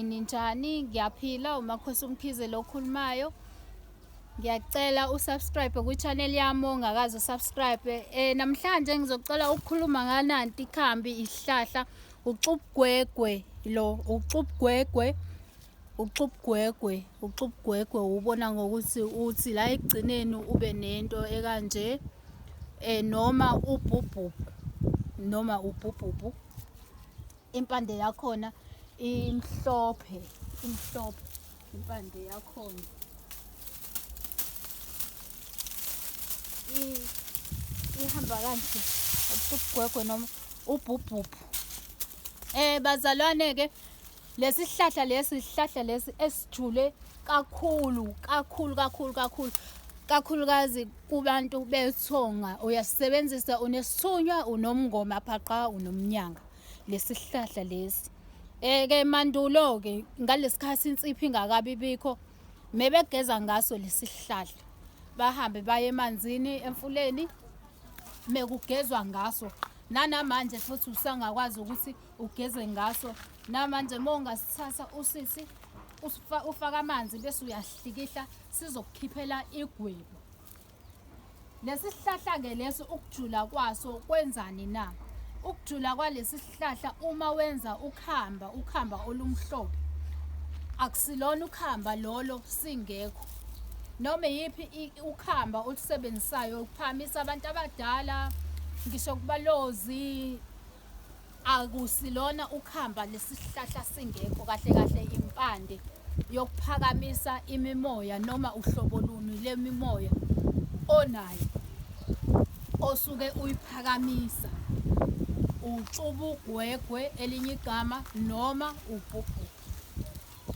Ninjani ngiyaphila umakhosi umkhize lo okhulumayo ngiyacela usubscribe kwi-channel yami ongakaze usubscribe eh namhlanje ngizocela ukukhuluma ngananti ikhambi isihlahla uxubugwegwe lo uxubugwegwe uxubugwegwe uxubugwegwe ubona ngokuthi uthi la ekugcineni ube nento ekanje eh noma ubhubhubhu noma ubhubhubhu impande yakhona imhlophe imhlophe impande yakhona ihamba kanje ubugwegwe noma ubhubhubhu eh bazalwane ke lesihlahla lesi sihlahla lesi esijule kakhulu kakhulu kakhulu kakhulu kakhulukazi kubantu bethonga uyasebenzisa unesithunywa unomngoma phaqa unomnyanga lesihlahla lesi eh ke mandulo ke ngalesikhathi insiphi ingakabi bikho mebegeza ngaso lesihlahla bahambe baye emanzini emfuleni mekugezwa ngaso nanamanje futhi usangakwazi ukuthi ugeze ngaso namanje uma ungasithatha usisi ufaka amanzi bese uyahlikihla sizokukhiphela igwebu Lesi sihlahla-ke lesi ukujula kwaso kwenzani na? Ukujula kwalesi sihlahla uma wenza ukhamba, ukhamba olumhlophe, akusilona ukhamba lolo singekho. Noma iyiphi i- ukhamba olusebenzisayo ukuphamisa abantu abadala, ngisho kubalozi, Akusilona ukhamba lesihlahla singekho kahle kahle impande yokuphakamisa imimoya noma uhlobo luni lemimoya onayo osuke uyiphakamisa utshubu gwegwe elinye igama noma ubhubhu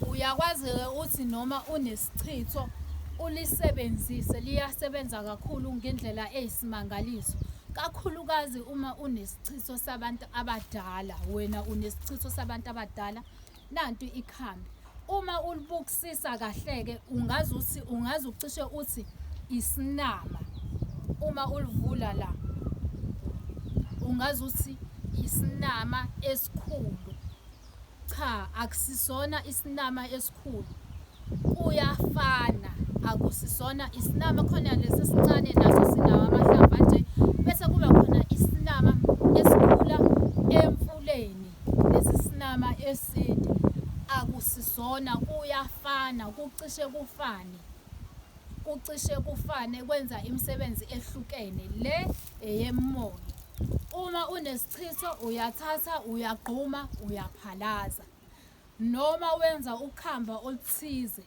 Uyakwazi-ke uthi noma unesichitho ulisebenzise, liyasebenza kakhulu ngendlela eyisimangaliso. Kakhulukazi uma unesichitho sabantu abadala, wena unesichitho sabantu abadala, nanti ikhambi. Uma ulibukisisa kahle-ke ungaze uthi ungaze ucishe uthi isinama. Uma ulivula la ungaze uthi isinama esikhulu. Cha akusisona isinama esikhulu kuyafana akusisona isinama khona lesi sincane naso sinawo amahlamvu anje bese kuba khona isinama esikhula emfuleni lesi sinama eside akusisona kuyafana kucishe kufane kucishe kufane kwenza imisebenzi ehlukene le eyemoya uma unes Chitho uyathatha uyagquma uyaphalaza noma wenza ukhamba oluthize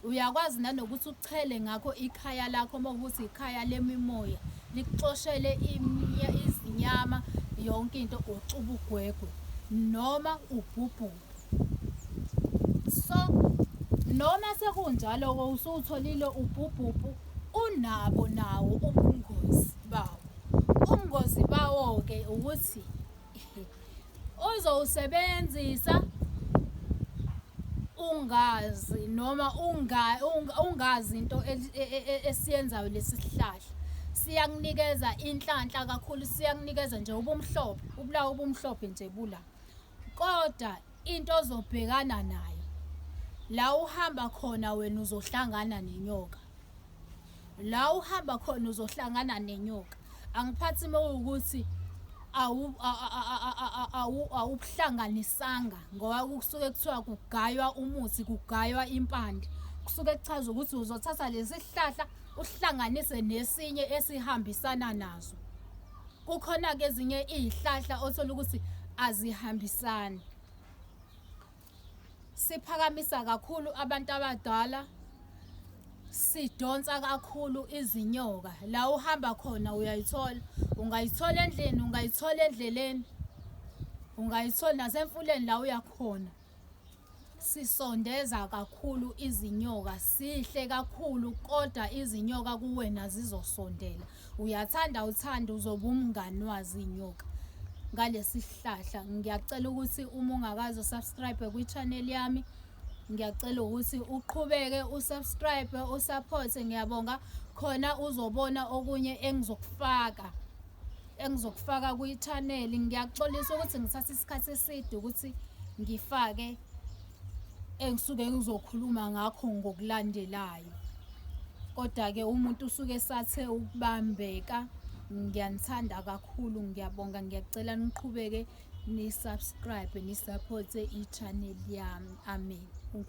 uyakwazi nanokuthi uchele ngakho ikhaya lakho uma ukuthi ikhaya lemimoya likuxoshele izinyama yonke into uxuba ugwegwe noma ubhubhuke so noma sekunjalo usuwutholile ubhubhubhu unabo nawo ubungozi bawo ubungozi bawo-ke ukuthi uzowusebenzisa ungazi noma ungazi into e, e, e, esiyenzayo lesi sihlahla siyakunikeza inhlanhla kakhulu siyakunikeza nje ubumhlophe ubulawa ubumhlophe nje bula Koda into ozobhekana nayo la uhamba khona wena uzohlangana nenyoka. La uhamba khona uzohlangana nenyoka. Angiphathi mawukuthi awubuhlanganisanga ngoba kusuke kuthiwa kugaywa umuthi kugaywa impande kusuke kuchaza ukuthi uzothatha lesi sihlahla uhlanganise nesinye esihambisana nazo. kukhona-ke ezinye iy'hlahla othola ukuthi azihambisani siphakamisa kakhulu abantu abadala sidonsa kakhulu izinyoka la uhamba khona uyayithola ungayithola endlini ungayithola endleleni ungayithola nasemfuleni la uyakhona sisondeza kakhulu izinyoka sihle kakhulu kodwa izinyoka kuwena zizosondela uyathanda uthanda uzoba umngani wazo iy'nyoka ngalesi sihlahla ngiyacela ukuthi uma ungakazi usubscribe kwi-channel yami ngiyacela ukuthi uqhubeke usubscribe usaphothe ngiyabonga khona uzobona okunye engizokufaka engizokufaka kwi-channel ngiyaxolisa ukuthi ngithatha isikhathi eside ukuthi ngifake engisuke ngizokhuluma ngakho ngokulandelayo kodwa-ke umuntu usuke esathe ukubambeka ngiyanithanda kakhulu ngiyabonga ngiyacela niqhubeke ni-subscribe ni-supporte i-channel yami amen